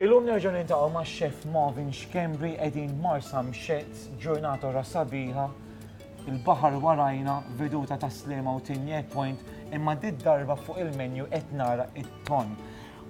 Illum nerġgħu niltaqgħu ma' Chef Marvin Schembri qegħdin Marsa Mxezz, ġurnata ra sabiħa, il-baħar warajna, veduta ta' Slema u Tinjek Point, imma dit darba fuq il-menu qed nara it-ton.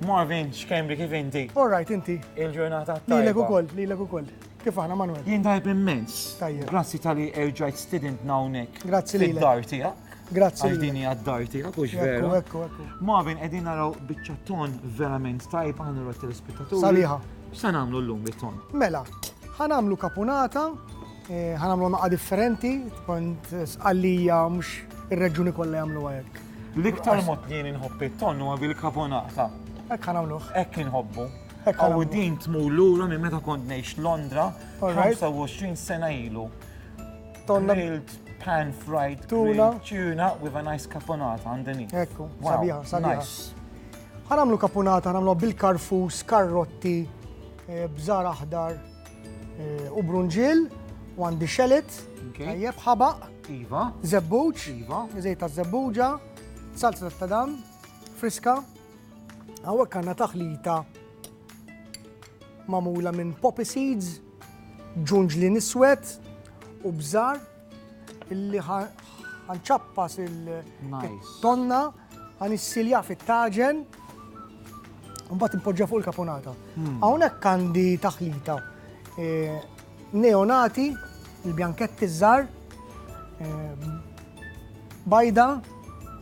Marvin Schembri kif inti? All right inti. Il-ġurnata tajba. Lilek ukoll, lilek ukoll. Kif aħna Manwel? Jien tajb immens. Tajjeb. Grazzi tal-li erġajt stidintna hawnhekk. Grazzi lilek. Fid-dar tiegħek. Grazzi. Għal din hija d-dar tiegħek u x'veru. Ekku, ekku. Marvin qegħdin naraw biċċa ton verament tajb aħna rot telespettaturi. Saliħa. X'sa nagħmlu llum bit-ton? Mela, ħanamlu kapunata, eh, ħanamlu naqa' differenti, kont sqallija mhux ir-reġuni kollha jagħmlu hekk. L-iktar mod li jien inħobb it-ton huwa bil-kapunata. Hekk ħanamluh. Hekk inħobbu. Aw din tmur lura minn meta kont ngħix Londra 25 sena ilu. Grilled pan fried tuna tuna with a nice caponata underneath. Ekku, sabiħa, sabiħa. Ħanamlu caponata, ħanamlu bil-karfus, karrotti, eh, bżar aħdar eh, u brunġil, u għandi xelet, tajjeb ħabaq, iva. zebbuġ, iva. zejta zebbuġa, salsa ta' tadam, friska, Hawnhekk għandna taħlita magħmula minn poppy seeds, ġunġli niswed u bżar illi ħanċappas il-tonna għan issilja fit-taġen un bat impoġġa fuq il-kaponata. Hmm. Hawnhekk għandi taħlita eh, Neonati, il-bjanketti ż-żgħar, bajda,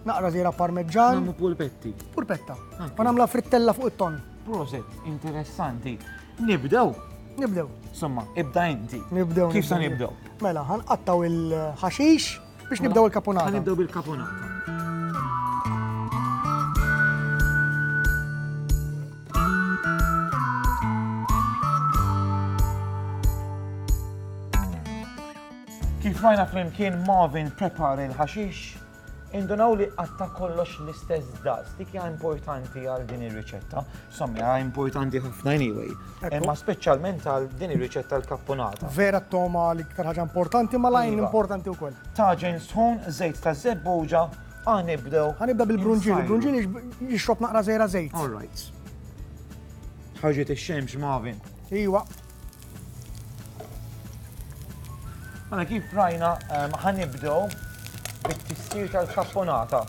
naqra żiera parmeġġan. Nagħmlu pulpetti. Pulpetta. Ah. Ma nagħmla frittella fuq it-ton. Proset, interessanti. Nibdew. Nibdew. Somma, ibda inti. Nibdew. Kif sa nibdew? Mela, ħanqattaw il-ħaxix. Biex nibdew il-kaponata. Nibdew bil-kaponata. Kif rajna flimkien Marvin prepar il-ħaxix, indunaw li għatta kollox l-istess daqs, dik hija importanti għal din ir-riċetta. Sommi, għaj importanti ħafna anyway. Ma specialment għal din ir-riċetta l-kappunata. Vera t-toma l-iktar ħaġa importanti, ma lajn iva. importanti u koll. Taġen sħun, zejt ta' zebbuġa, għanibdew. Għanibda bil-brunġil, il-brunġil jixrob naqra zejra zejt. All right. Ħarġet il-xemx, Marvin. Iwa. Mela kif rajna ħanibdew bit-tistir tal-kapponata.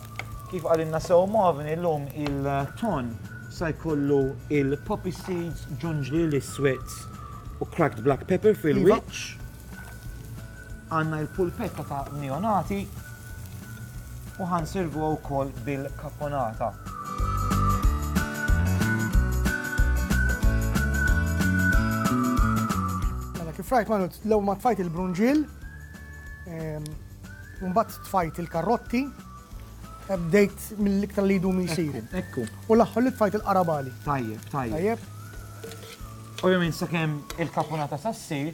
Kif għalinna sew Marvin illum il-ton sa jkollu il-poppy seeds, ġunġli l-iswed u cracked black pepper fil-wiċċ. Għandna l-pulpetta ta' neonati u ħa nservuha wkoll bil-caponata. F'rajt ma l-ewwel ma tfajt il-brunġiel, ehm, mbagħad tfajt il-karrotti, eh, bdejt mill-iktar li jdum jisir. Ekku. U l-aħħar li tfajt il-qarabali. Tajjeb, tajjeb. Ovvjament sakemm il-kapunata sassir,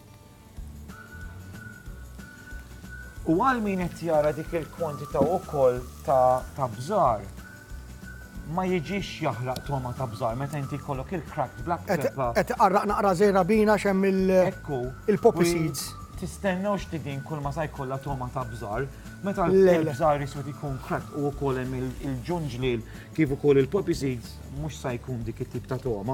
U għal min qed jara dik il-kwantità wkoll ta' bżar, ma jiġix jaħraq toma ta' bżar meta inti jkollok il-cracked black pepper. Qed qarraq naqra żejra bina xem il-poppy seeds. Tistennew x'tidin kull ma sa jkollha toma ta' bżar, meta l-bżar isod ikun cracked u wkoll hemm il-ġunġliel kif ukoll il-poppy seeds mhux sa jkun dik it-tip ta' toma.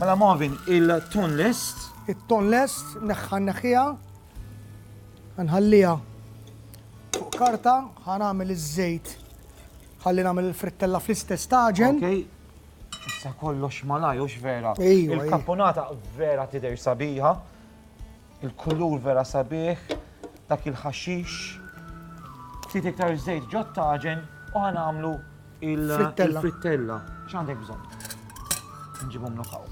Mela Marvin, il-ton lest? Il-ton lest, neħħa neħħija. Nħallija fuq karta, ħan għamil iż-żejt. Ħalli nagħmel il-frittella fl-istess taġen. Okay. Issa kollox malaj, ux vera. Il-kaponata vera tider sabiħa. Il-kulur vera sabiħ, dak il-ħaxix. Ftit iktar żejt ġo t-taġen u ħanagħmlu il-frittella. X'għandek bżonn? Nġibhom nokaw.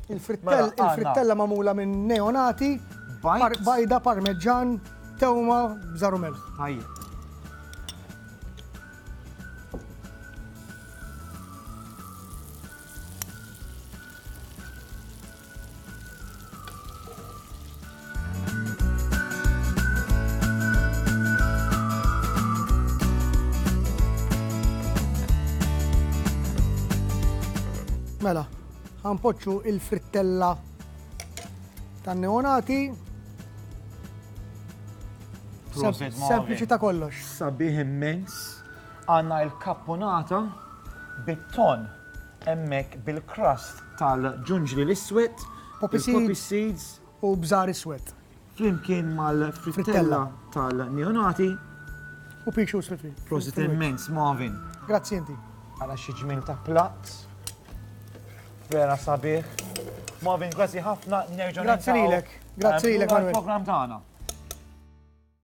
Il-frittella magħmula minn neonati, bajda, parmeġġan, tewma, bżaru melħ. Tajjeb. Mela, għanpoċu il-frittella tan neonati Sempliċi ta' kollox. Sabiħ immens. Għanna il-kappunata bit-ton hemmhekk bil-crust tal-ġunġli l-iswed, il-poppy seeds, u bżar iswed, flimkien mal-frittella tal-neonati, u pea shoots fil-frit. Prosit immens, Marvin! Grazzi inti! Ara xi ġmiel ta' platt. Vera sabiħ. Marvin, grazzi ħafna, nerġa' niltaqgħu. Grazzi lilek, grazzi lilek, Manuel. Għall-programm tagħna.